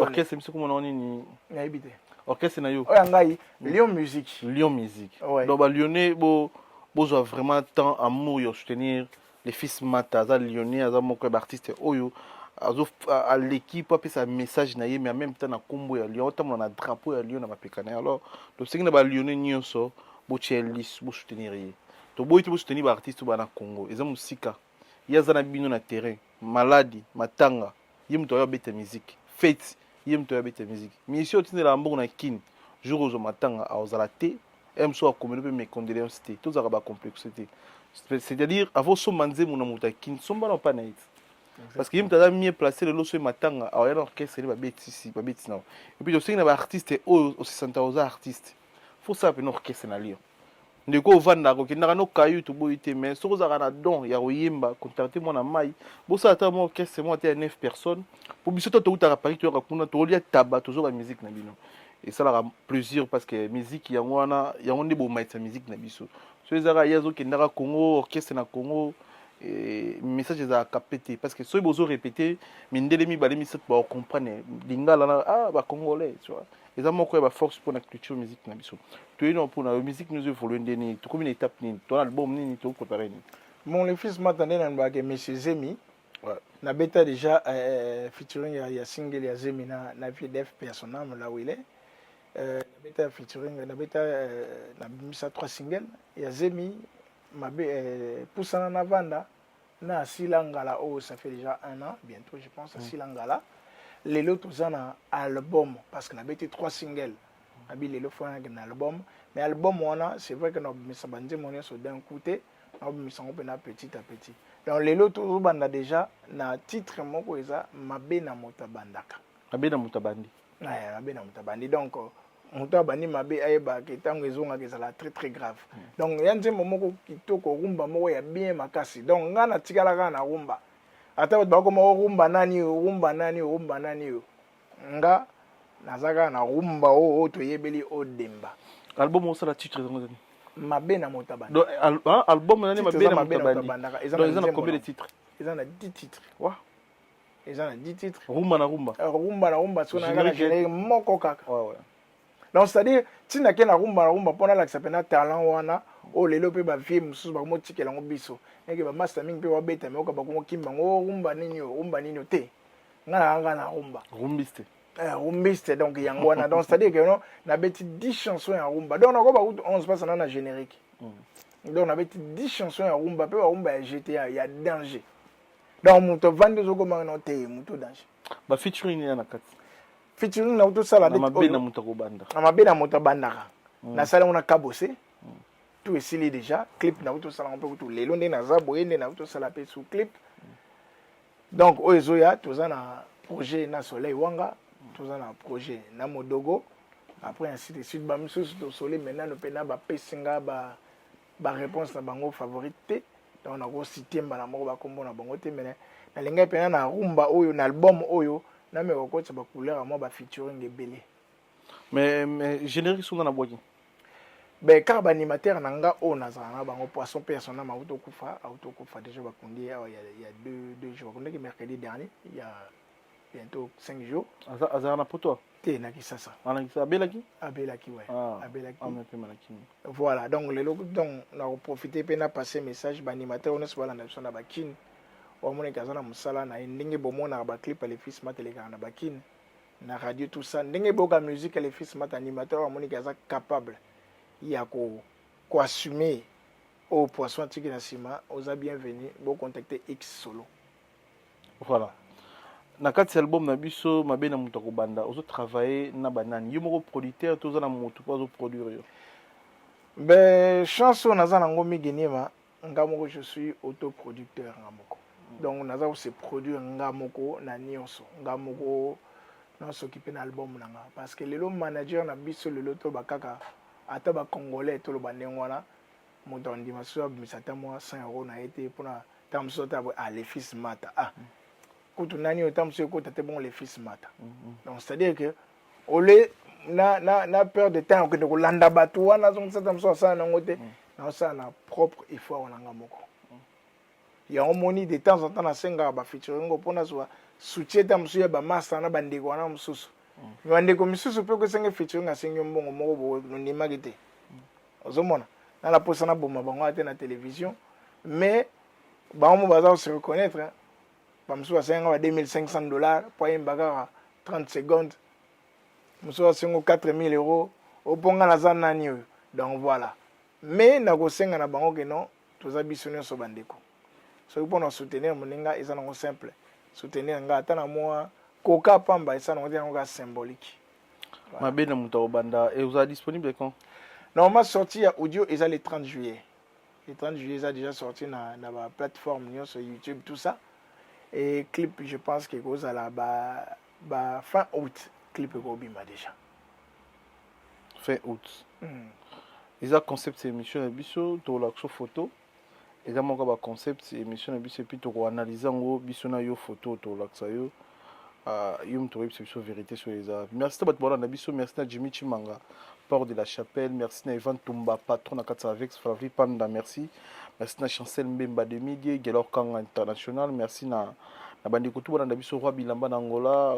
orchestre biso komona ngo nini nayebi te orchestre na yo oyo ngai mm. lion musique lion musique donc balione bozwa vraiment temps amour ya soutenir le fils mata aza lione aza moko ya baartiste oyo aleki mpo apesa message na ye mais en même temps na nkombo ya lion otambola na drapeau ya lion na mapeka na ye alors tosengi na balione nyonso botya lis bosoutenir ye toboyi te bosoutenir baartiste oyo bana congo eza mosika ye aza na bino na terrain maladi matanga ye moto ayo abeta miziki feti ye moto ayo abeta miziki misie otindelaka mbongo na kin jour ozwa matanga aozala te mso akomeli mpe mecondoleance te tozalaka bacomplexe te c'est-à-dire avo somba nzembo na moto ya kin somba na mpa na ye parce que ye moto aza mie place lelo soki matanga aoya na orchestre ne babetisi babeti na yo epuis osengi na baartiste oyo osisanta oza artiste fosala mpena orchestre na lio ndeko ovandaka okendaka no kayu toboyi te mais soki ozalaka na don ya koyemba contacte mwana mai bosala ata mwa orchestre moko ata ya 9 personnes mpo biso to toutaka paris toyoka kuna tokolia taba tozoka musique na bino esalaka plaisir parce que musique yango wana yango nde bomatisa musique na biso so ezalaka ye azokendaka congo orchestre na congo eh, message ezalaka pe te parce que soki bozo répété mindele mibale misato bakocomprendre lingala na ah bacongolais tu vois eza moko ya baforce mpo na culture musique na biso toyei nao mpo na yo musique nous evolue nde nini tokomi na étape nini to na album nini toprépare nini mon le fils mata nde na lobake monsieur zemi nabeta déjà euh, featuring ya, ya single ya zemi na, na pdf personam là où il est euh, nabeta featuring nabeta euh, nabimisa trois single ya zemi mabe euh, pusana na vanda na asila ngala oyo ça fait déjà un an bientôt je pense asila ngala lelo toza na album parce que nabeti trois single nabi lelo fo nayaki na album mais album wana c'est vrai que nabimisa banzembo nyonso d'un coup te nabimisa yango mpena petit à petit donc lelo tozobanda déjà na titre moko eza mabe na moto abandaka mabe na moto abandi eh, mabe na moto abandi donc moto abandi mabe ayeba ke ntango ezongaka ezala très très grave mm. donc ya nzembo moko kitoko rumba moko ya bien makasi donc ngai natikala kaka na rumba ata bato bakoma orumba oh, nani oyo rumba nani oyo rumba nani oyo nga naza kaka na rumba oyo oh, oh, toyebeli odemba album osala titre yango ezali mabe na moto abandi donc ah, album nani mabe na moto abandi donc eza na combien de titre eza na 10 titre wa eza na 10 titres rumba na rumba eh, rumba na rumba siko nanga na générique moko kaka ouais, ouais. donc c'est à dire ntina ke na rumba na rumba mpo nalakisa mpena talent wana oyo lelo mpe bavie mosusu bakomotikela yango biso neke bamasta mingi mpe babeta meoka bakomokimba yango oh, rumba nini oyo rumba nini oyo te nga na kanga na rumba rumbiste eh, rumbiste donc yango wana donc c'est à dire que no nabeti 10 chansons ya rumba donc nakoba kutu 11 mpasa na na générique mm. donc nabeti 10 chansons ya rumba mpe barumba ya gta ya danger donc moto avandi ozokoma no te moto danger ba featuring ya na kati featuring na moto osala na mabe na moto akobanda na mabe na moto abandaka mm. nasala yango na kabose mm. tout esili déjà clip na moto osala mpe kutu lelo nde naza boye nde na moto osala mpe sous clip mm. donc oyo ezoya toza na projet na soleil wanga toza na projet na modogo après ainsi de suite bamisusu tosoli maintenant mpe na bapesi nga ba, ba ba réponse na bango favorite te donc nako citer mbala moko ba kombo na bango te mais nalingaki mpena na rumba oyo na album oyo nameka kokotisa ba couleur ya mwa ba featuring ebele mais, mais générique songa na bwaki ben kaka baanimateur na nga oyo nazala na bango poisson personne nama auti okufa auti okufa déjà bakundi ye awa ya deux jours bakundaki mercredi dernier ya bientôt 5 jours aza aza na poto te na kisasa ana ah, kisasa abelaki abelaki ouais ah, abelaki ah, mais pe malaki voilà donc lelo donc na ko profiter pe na passer message ba animateur on se bala na sona ba kin wa mona kaza na musala na ndenge bo mona ba clip les fils mateleka na ba kin na radio tout ça ndenge boka musique les fils mat animateur wa mona kaza capable ya ko ko assumer au poisson tiki na sima oza bienvenue bo contacter X solo Voilà. Na kati ya album na biso mabe na moto akobanda ozo travailler na banani yo moko producteur to oza na moto mpo azo produire yo ben chance oyo naza nango migi niema nga moko je suis autoproducteur nga moko mm. donc naza kose produire nga moko na nyonso nga moko nasokipe na album na nga parce que lelo manager na biso lelo toloba kaka ata bacongolais toloba ndenge wana moto andima soki abimisa ata mwa 100 euro na ye te mpona ntango mosusu ata boye ah le fils mata ah mm. kutu nani oyo ntango mosusu ekota te bongo le fils mata mm, mm. donc c'est à dire que ole na, na, na peur de temps okende kolanda bato wana azongisa ntango mosusu asala nango te naosala na propre effort wana nga moko yango moni de temps en temps nasengaka bafeturingo mpo nazwa soutien ntango mosusu ya bamasta na bandeko wana mosusu bandeko misusu mpe okosenge featuring asengi yo mbongo moko boye nondimaki te ozomona na naposa naboma bango ata na television mais bango mo baza kose reconnaître hein. bamosusu basenga ba 2500 dollars mpo ayemba kaka 30 secondes mosusu asengo 4000 euros opo nga naza nani oyo donc voilà mais nakosenga na bango ke non toza biso nyonso bandeko soki mpo na soutenir moninga eza nango simple soutenir nga ata na mwa koka pamba esa nango te yango kaka symbolique mabe na moto akobanda ekozala disponible quand normalement sorti ya audio eza le 30 juillet le 30 juillet eza déjà sorti na, na ba plateforme nyonso youtube tout ça et clip je pense que ekozala ba, ba fin août clip ekobima déjà fin août mm. eza concept ya émission na biso tolakso photo eza moko ya baconcept émission na biso epuis tokoanalyse yango biso na yo photo tolakisa yo uh, yo moto oyebisa biso vérité soyo eza merci na bato balanda biso merci na jimmy chimanga port de la chapelle merci na evan tumba patron na kati ya avec flavri panda merci merci na chancel mbemba demidie gelor kanga international merci na na bandeko tu balanda biso roi bilamba na angola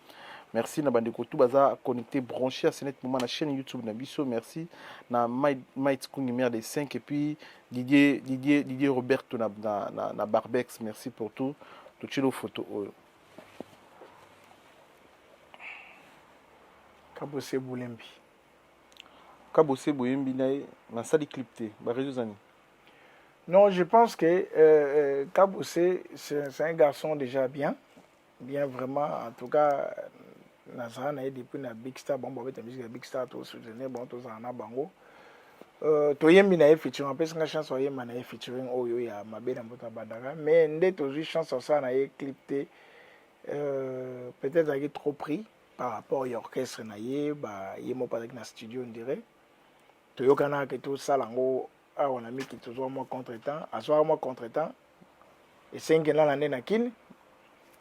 merci na bandeko tu baza connecté branché à senet moment na chaîne youtube na biso merci na mait kungi mère des 5 et puis didier didier didier roberto na, na, na, na barbex merci pour tout totyelo photo oyo kabose bolembi kabose boyembi na ye nasali clip te barezo eza nini Non, je pense que euh, euh Kaboussé, c'est un garçon déjà bien. bien vraiment en tout cas nazala na ye depuis na big star bango babeta musique ya big star tosoutenir bango tozala na bango euh, toyembi na ye featuring apesi nga chance oyemba na ye featuring oyo ya mabe na mboto abandaka mais nde tozwi chance osala na ye clip te euh, peut-être azalaki trop pris par rapport ya orchestre na ye ba ye moko azalaki na studio ndire toyokanaka ke tosala yango awa na miki tozwa mwa contre temps azwaka mwa contre temps esengi nana nde na kine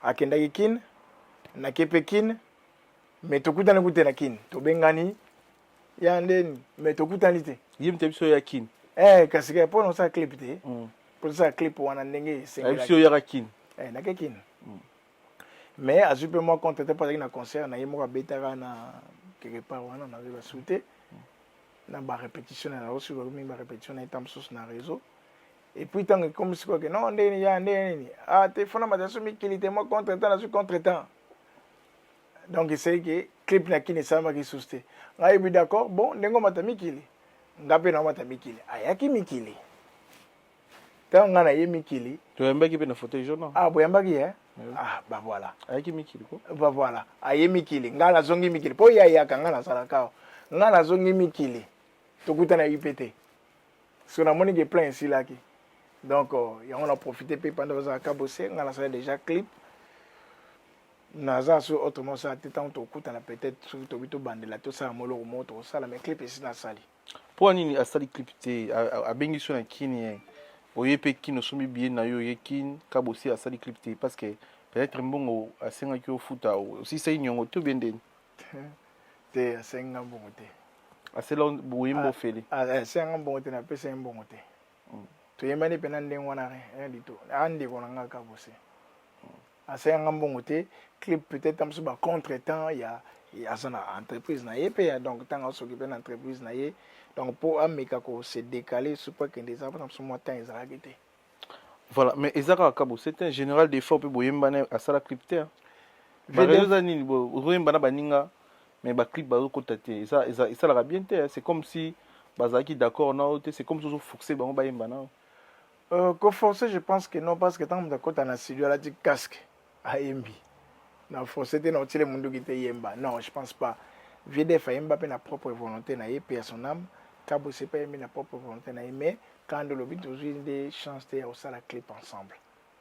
akendaki kine nake mpe kine me tokutani kute na kine tobengani ya ndeni me tokutani te ye mte biso ya kine eh, kasi kaka mpo nosala clip te mpo mm. tosala clip wana ndenge esengelaki biso oyaka kine eh, nake kine mm. mais azwi mpe mwa compte te mpo azalaki na concert na ye moko abetaka na quelque part wana nazwi basui te na barépétition na yango soki bakomi mingi barépétition na ye ntango mosusu na réseau epuis ntango ekomi sikoyo ke non ndenge nini ya ndenge nini ah te fona mataso mikili te mwa contre temps nazwi contre temps donc esei ke clip na kini esalamaki susu te ngai ebi d'accord bon ndenge omata mikili ngai mpe naomata mikili ayaki mikili Ntango ngai naye mikili. Toyambaki mpe na fauteuil jaune. Ah, boyambaki ye? Ah, ba voilà. Ayaki mikili ko? Ba voilà. Aye mikili. Ngai nazongi mikili. Mpo ye ayaka, ngai nazalaka awa. Ngai nazongi mikili. Tokutana UPT. So namoni ke plein esilaki. Donc, euh, yango na profite mpe panda bazalaka bose, ngai nasala déjà clip. naza so autrement osala te ntango tokutana peut-être soki tobi tobandela tosala moloko moko tokosala mais clip esi nasali Mpo nini asali clip te? Abengi so na kin ye. Oye pe kin osombi billet na yo oye kin kabosi asali clip te parce que peut-être mbongo asengaki ofuta osilisaki niongo te bien ndeni? te asengi nga mbongo te. Asela boye mbo fele. Asengi nga mbongo te na pesa ye mbongo te. Mm. Toyembani pe na ndenge wana rien du tout. Andeko na nga kabosi. asaya nga mbongo te clip peut-être amosusu ba contre temps ya aza na entreprise na ye mpe ya donc ntango asokipe na entreprise na ye donc mpo ameka ko se décaler soki mpo akende eza mpona mosusu mwa temps ezalaki te voilà mais eza kaka kabo c'est un général d'effort mpe boyembana asala clip te eza nini ozoyemba na baninga mais baclip bazokota te esalaka bien te c'est comme si bazalaki d'accord nao te c'est comme si ozofourse bango bayemba nao Euh, ko forcer je pense que non parce que ntango moto akota na studio alati casque ayembi na force te na otile munduki te yemba non je pense pas vdf ayemba mpe na propre volonté na ye mpe ya son âme kabose mpe ayembi na propre volonté na ye mais kando olobi tozwi nde chance te ya kosala clip ensemble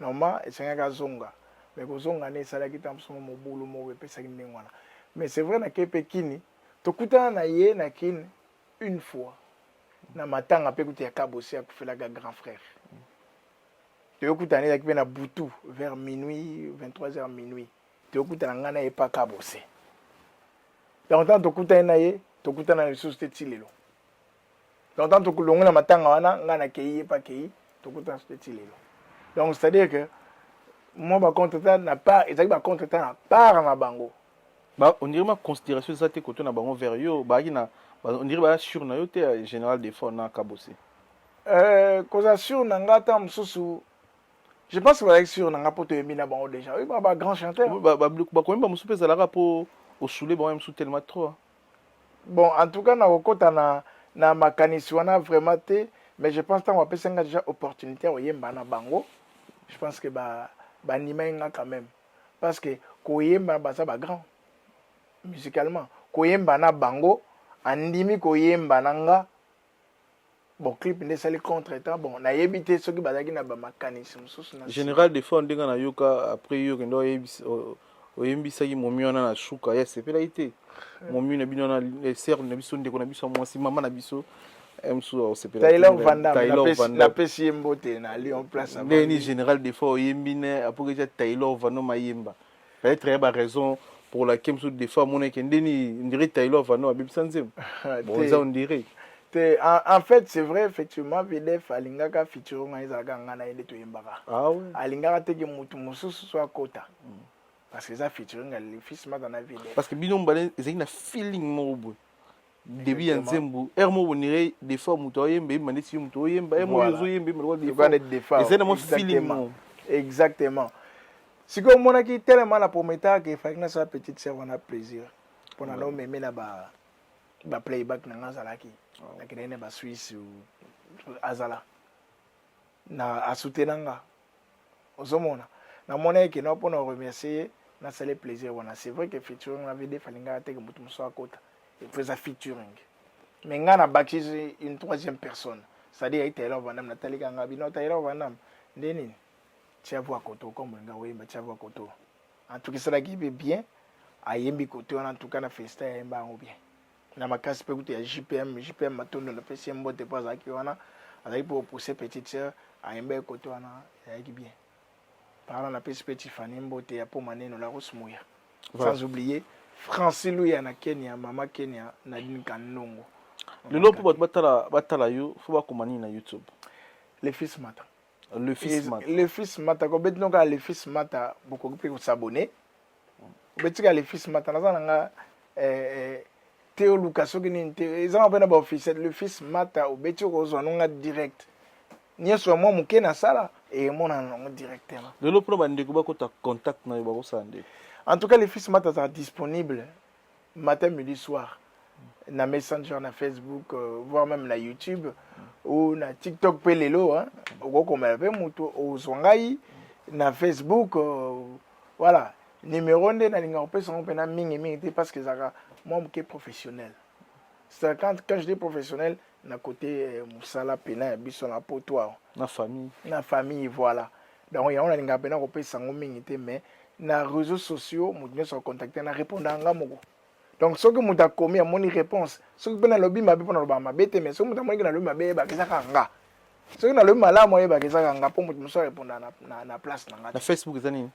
Normalement esengaki azonga mais kozonga ne esalaki ntango mosusu mwa mobulu moko epesaki ndenge wana mais c'est vrai nakei mpe kini tokutana na ye na kin une fois na matanga mpe kutu ya kabosi akufelaka grand frère toyokutana ezalaki mpe na butu vers minuit 23 heures minuit toyokutana ngai na ye mpa kabose yango ntango tokutani na ye tokutana lisusu te ti lelo donc ntango tokolongo na matanga wana ngai nakei ye mpe akei tokutana soki ti lelo donc c'est à dire que mwa bacontretemps na part ezalaki bacontretemps na part na bango ba ondire ma considération eza te koto na bango vers yo baaki na ondire baya sur na yo te ya général defort na kabosi euh, kozala sur na ngai ntango mosusu je pense que bazalaki sur na ngai mpo toyembi na bango déjà oyebi ba grand chanteur bakoyemba mosusu mpe ezalaka mpo osule bango ya mosusu telema trop Bon, en tout cas, nakokota na, na makanisi wana vraiment te, mais je pense ntango bapesi nga déjà opportunité ya koyemba na bango, je pense que ba bandimaki nga quand même parce que koyemba baza ba grand musicalement koyemba na bango andimi koyemba na nga bon clip nde esali contre temps bon nayebi te soki bazalaki na bamakanisi mosusu na général de fois ndenge nayoka après yo kende oyembisaki momi wana na suka ye asepelaki te eh. momi na bino wana eh, serle na biso ndeko na biso ya mwasi mama na biso eh, mosusu aosepelapesi ye mbote na lion place ndeni général de fois oyembi ne apoketia taylor vano mayemba peut-être ya ba raison pour laquelle mosusu des fois amona eke nde nini ndire tailo avanda abebisa nzembo bonza ondire te en fait c'est vrai effectivement vdf alingaka fitiro ngai ezalaka ngai na ye nde toyembaka ah alingaka te ke motu mosusu so akota mm. parce que eza fitiro ngai fils mata na vdf parce que bino mobale ezalaki na feeling moko boye début ya nzembo heure moko bonire defa moto aoyemba yemba ndeti yo moto oyemba heure moko ozoyemba yemba lokola defa ezali na mwa feeling exactement sikoyo omonaki telema na prometaka ke efalaki nasala petite sœur wana plaisir mpo na naomeme na ba ba playback na nga azalaki ah. nakendaki na ba suisse azala na asutena nga ozomona namonaki keno mpo na remercier ye nasali plaisir wana c'est vrai que featuring na vdf alingaka te ke moto mosusu akota epo eza featuring mais ngai nabakisi une troisième personne c'est-à-dire ye taylor vandam natalika ngai bino taylor vandam nde nini tiavu akoto okombo linga oyemba tiavu akoto antukisalaki mpe bien ayembi koto wana antuka na festa yayemba yango bien na makasi mpe kutu ya jpm jpm matondo napesi ye mbote mpo azalaki wana azalaki mpo opousse petite sœur ayemba ekote wana ezalaki bien parla napesi mpe tifani mbote ya poma neno laros moya sans oublier franci luya na kenya mama kenya nadine kanongo lelo mpo bato batala yo fo bakoma nini na youtube le fils mata le fils mata le fils mata ko beti noka le fils mata bokoki pe ko s'abonner beti ka le fils mata naza nanga eh, eh, te oluka soki nini te ezanga mpe na baofficiel le fils mata obeti okozwa nonga direct nyonso ya mwa moke nasala emonana nango directement lelo mpona bandeko bakota contact na yo bakosala nde en tout cas le fils mata azala disponible matin midi soir na messenger na facebook euh, voire même na youtube ou na tiktok mpe lelo okokomela mpe moto ozwa ngai na facebook euh, voilà numéro nde nalingaka kopesa yango mpena mingimingi te parce que ezalaka mwa moke professionnel quand je dis professionnel na kote eh, mosala mpena ya biso na poto awa na famille na famille voilà donc yango nalingaka mpena kopesa yango mingi te mais na réseaux sociaux moto nyonso akontacte na répondaka nga moko donc soki moto akomi amoni réponse soki mpe nalobi mabe mpo nalobaka mabe te mais soki moto amoniki nalobi mabe eyebaka ezaka nga soki nalobi malamu ayebaka ezaka nga mpo moto mosusu arépondaka na, na, na place na nga na facebook eza nini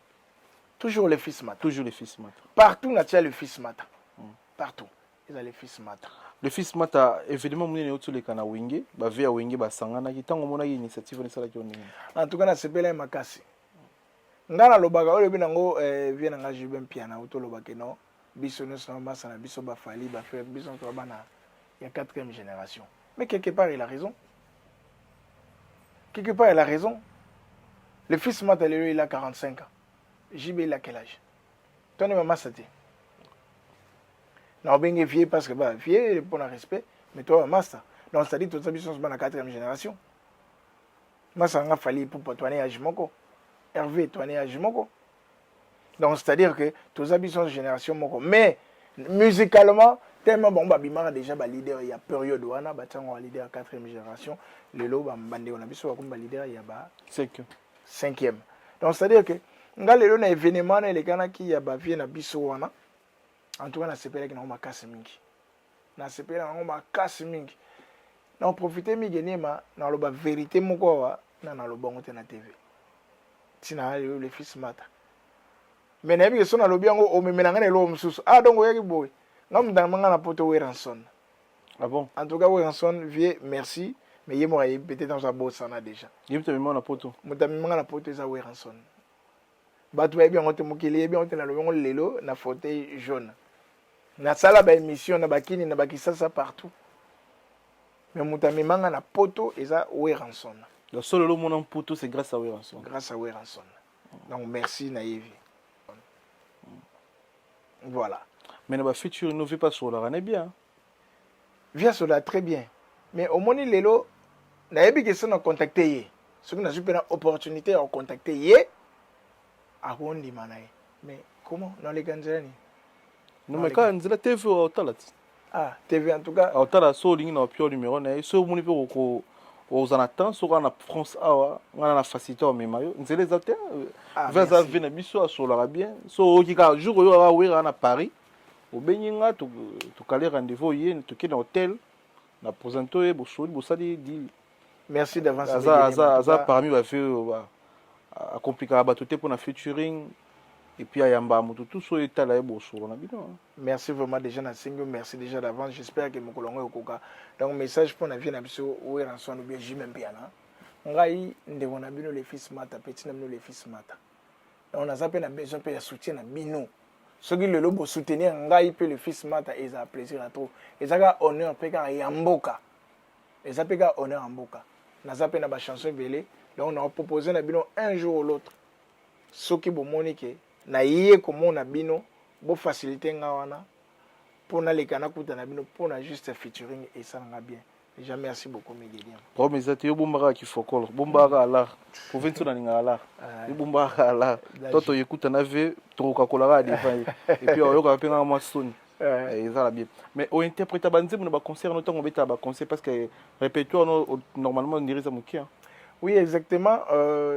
toujours le fils mata toujours le fils mata partout natia le fils mata mm. partout eza le fils mata le fils mata événement monene euti oleka na wenge bave ya wenge basanganaki ntango omonaki initiative wana esalaki yo ndenge en tout cas nasepelaki makasi ngai nalobaka oyo elobi nango eh, vie na ngai jube mpiana uti olobake no biso nyonso na masa na biso bafali bafrere biso nyonso bana ya quatrième génération mais quelque part il a raison quelque part il a raison le fils mata lelo il a 45 ans jube il a quel âge toni ma masa te na obenge vieux parce que ba vieux pour na respect mais toi ba masa donc c'est-à-dire toza biso nyonso bana quatrième génération masa nga fali ipupa toane age moko herve toane age moko donc c'est-à-dire que toza biso nyonso génération moko mais musicalement tellement bango babimaka déjà baleader ya période wana batiango baleader ya quatrième génération lelo bandeko na biso bakomi baleader ya ba cinquième donc c'est à dire que nga lelo na événement wana elekanaki ya bavie na biso wana en tout cas nasepelaki nango makasi mingi nasepeli nango makasi mingi na profite mingi enema naloba verité moko awa na naloba yango te na tv ntina na lelo le fils mata me nayebi ke so nalobi yango omemela ngai na eloko mosusu ah donc oyaki boye nga motana manga na poto weranson Ah bon? En tout cas, Wilson, vieux, merci. Mais il y peut-être dans un beau sana déjà. Il y a même na poto. Muta même na poto za Wilson. Batu ba bien ngote mukili bien ngote na lobongo lelo na fauteuil jaune. Na sala ba émission na bakini na bakisasa partout. Mais muta même na poto eza Wilson. Donc solo lo mona mputu c'est grâce à Wilson. Grâce à Wilson. donc merci nayebi voilà mais na bafuture no vie pasolaka na bien vie asolaka très bien mais omoni lelo nayebi ke so na contacte ye soki nazwi mpe na opportunité ya kocontacte ye akondima na ye mais comment naleka nzela nini nomeka nzela tv oyo otala ti ah tv en tout cas otala so olingi na opio numéro na ye so omoni mpe oko oza na temps soki awa na france awa ngai na facilité omema yo nzela eza te ah, ve aza ve na biso asololaka bien so oyoki kaka jour oyo kaka wera na paris obengi nga tokale rendez-vous oye tokende na hotel na presente oye bosoli bosali dili merci d'avance aza aza aza parmi ba vieux oyo ba akomplikaka bato te mpona featuring et puis ayamba moto tout soyo etala ye bosolo na bino hein. merci vraiment déjà nasengi yo merci déjà d'avance j'espère que mokolo yango ekoka donc message mpo na vie na biso weranson ou bien jime mpiana ngai ndeko na bino le fils mata petit na bino le fils mata donc naza mpe na besoin mpe ya soutien na bino soki lelo bosoutenir ngai mpe le fils mata ezala plaisir ya trop ezaka honneur mpe kaka ya mboka eza mpe kaka honneur ya mboka naza mpe na bachanson ebele donc nakopropose na bino un jour ou l'autre soki bomoni ke naye komona bino bofacilite nga wana mpo naleka nakuta na bino mpo na juste featuring esala nga bien déjà merci beaucoup migediam problème eza te yo bombaka kifokolo bombaka alar province na ninga alar yo bombaka alar to toyekuta na ve tokokakolaka ya devant ye epuis oyokaka mpe ngaka mwa soni Eh. eza na bien mais ointerpreta banzembo na baconcert no ntango obetaka baconcert parce que répertoire no normalement ondiri eza moke hein. oui exactement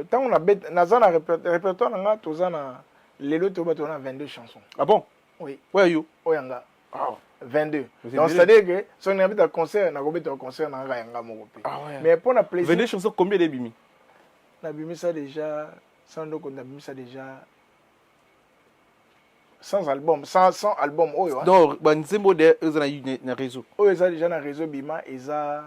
ntango euh, naza na répertoire na nga toza na lelo toyo bato na 22 chansons ah bon oui oyo yo oyo yanga 22 donc c'est à dire que soki nabeta concert nakobeta concert na nga yanga moko mpe ah mais mpo na plaisir 22 chansons combien ebimi nabimisa déjà sans ndoko nabimisa déjà sans album sans, sans album oyo hein? donc banzembo oyo deja eza na, na réseau oyo eza déjà na réseau bima eza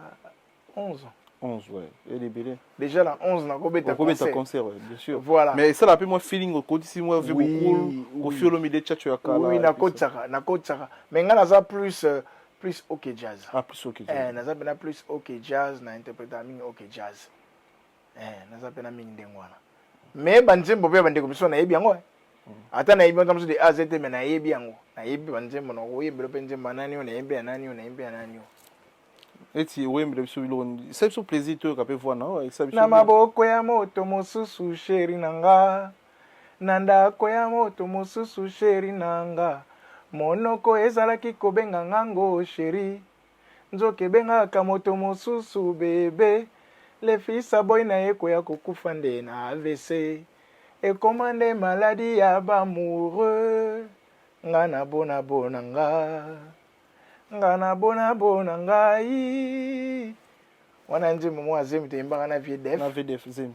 11 ans 11 ouais et les bébés déjà la 11 na kobeta concert concert ouais, bien sûr voilà mais ça la pe moi feeling okotisi moi vu oui, beaucoup ko fiolo mi de chacho ya kala oui na kotsaka na kotsaka mais nga naza plus euh, plus OK jazz ah plus OK jazz eh naza bena plus OK jazz na interpréter mingi OK jazz eh naza pena mingi ndenge wana mais ba nzembo pe ba ndeko biso nayebi yango eh. mm. ata nayebi yango de a zete mais nayebi yango nayebi ba nzembo na koyembela pe nzembo nani oyo nayebi ya nani oyo nayebi ya nani oyo eti oyembela biso biloko esa biso plaisir toyoka pe voix nao esa biso na maboko ya moto mosusu sheri na nga na ndako ya moto mosusu sheri na nga monoko ezalaki kobenga ngango sheri Nzoka ebengaka moto mosusu bebe. Le fils aboyi na ye koya kokufa nde na avc. Ekoma nde maladie ya b'amoureux. Nga na bona bona nga. Nga na bona bona ngai. Wana nzembo moko ya zemi toyembaka na vieux Def. Na vieux Def zemi.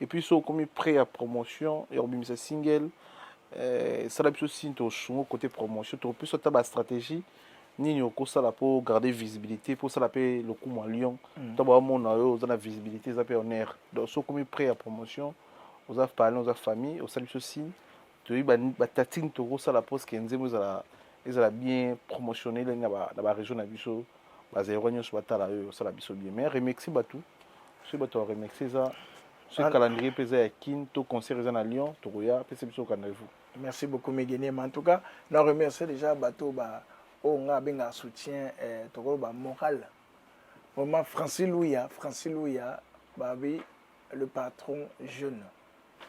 et puis so okomi près ya promotion ya kobimisa single eh, esala biso signe tosungo côté promotion tokopesa ata bastratégie nini okosala mpo garder visibilité mpo osala mpe lokumu ya lyon mm. ntango bamona yo oza na visibilité eza mpe honneur donc so okomi près ya promotion oza parlin oza famille osali biso signe toyebi batatine tokosala mposke nzembo ezala ezala bien promotionne elenge na baregion na biso bazairwa nyonso batala oyo osala biso bien mais remercie bato soki bato ya remercie eza soki calendrier mpe eza ya kin to concert eza na lyon tokoya pesa biso rendez-vous merci beaucoup megenema en tout cas na remercie déjà bato ba oyo oh, nga abengaka soutien eh, tokoloba moral vraiment francis luya francis luya babi le patron jeune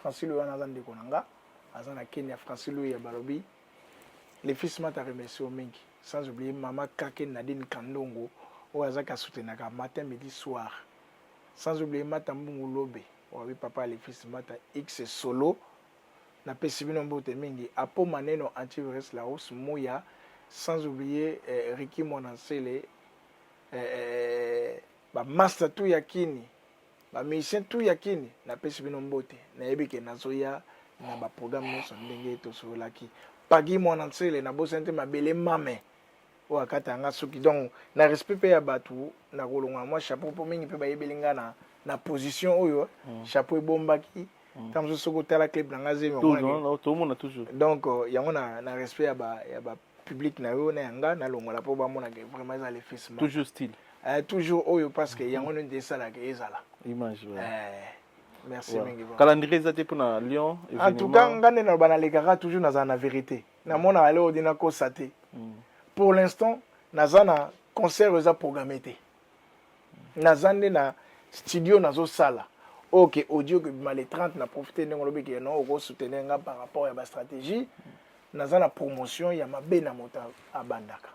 francilo wana aza ndeko na nga aza na kenya francilo ya balobi le fils mata remercie yo mingi sans oublier mama kake nadine kandongo oyo azaki asoutenaka matin midi soir sans oublier mata mbungu lobe wabi papa ya le fils mata x solo napesi bino mbote mingi apo maneno antivirus laos muya sans oublier eh, riki mwana nsele eh, eh, bamaster tu ya kini Ba musiciens tout ya kin napesi bino mbote nayebi ke nazoya na ba programme nyonso ndenge tosololaki pagi mwana nsele nabosani te mabele mame oyo akata yanga suki donc na respect mpe ya bato nakolongola mwa chapeau mpo mingi mpe bayebeli ngai na, na position oyo mm. chapeau ebombaki mm. ntango mosusu soki otala clip na ngai zemi donc euh, yango na, na respect ya ba, ya ba public na yo na ya nga nalongola mpo bamona ke vraiment eza lefisma toujours style eh, toujours oyo parce que yango nde esalaka ezala image ouais. eh, merci ouais. mingi calendrier eza te mpona lyon en tout cas nga nde naloba nalekaka toujours nazala na vérité namonaka leo odi nakosa te mm. pour l'instant naza na concert eza programme te naza nde na studio nazosala oyo ke audio ke bima le 30 na profite ndenge olobi ke non okosoutenir nga par rapport ya bastratégie naza na promotion ya mabe na moto abandaka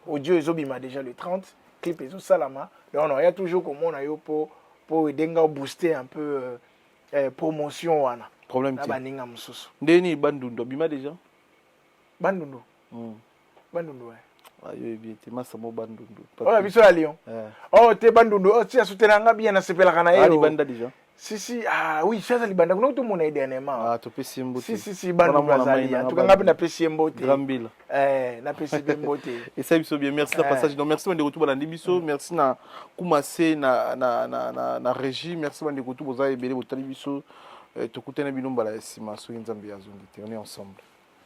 audio ezobima déjà le 30 clip ezosalama donc naoya toujours komona yo mpo mpo edenge obooste un peu euh, eh, promotion wana problème na baninga mosusu ndeni bandundu abima déjà bandundu mm. bandundu eh. ah, yo oyebi ete masa mo bandundu oyo oh, biso ya lion eh. o oh, te bandundu o ti asutela nga bien nasepelaka na ye ah, libanda deja si si ah oui chaza libanda kuna tomona ye dernièrement ah topesi ye mbote si si si bana bazali en tout cas ngai mpe napesi ye mbote grambila eh napesi mpe mbote esali biso bien merci na eh. passage donc merci bandeko tu balandi biso mm. merci na kumase na na na na, na régie merci bandeko tu boza ebele botali biso eh, tokutani bino mbala ya nsima soki nzambe azongi te on est ensemble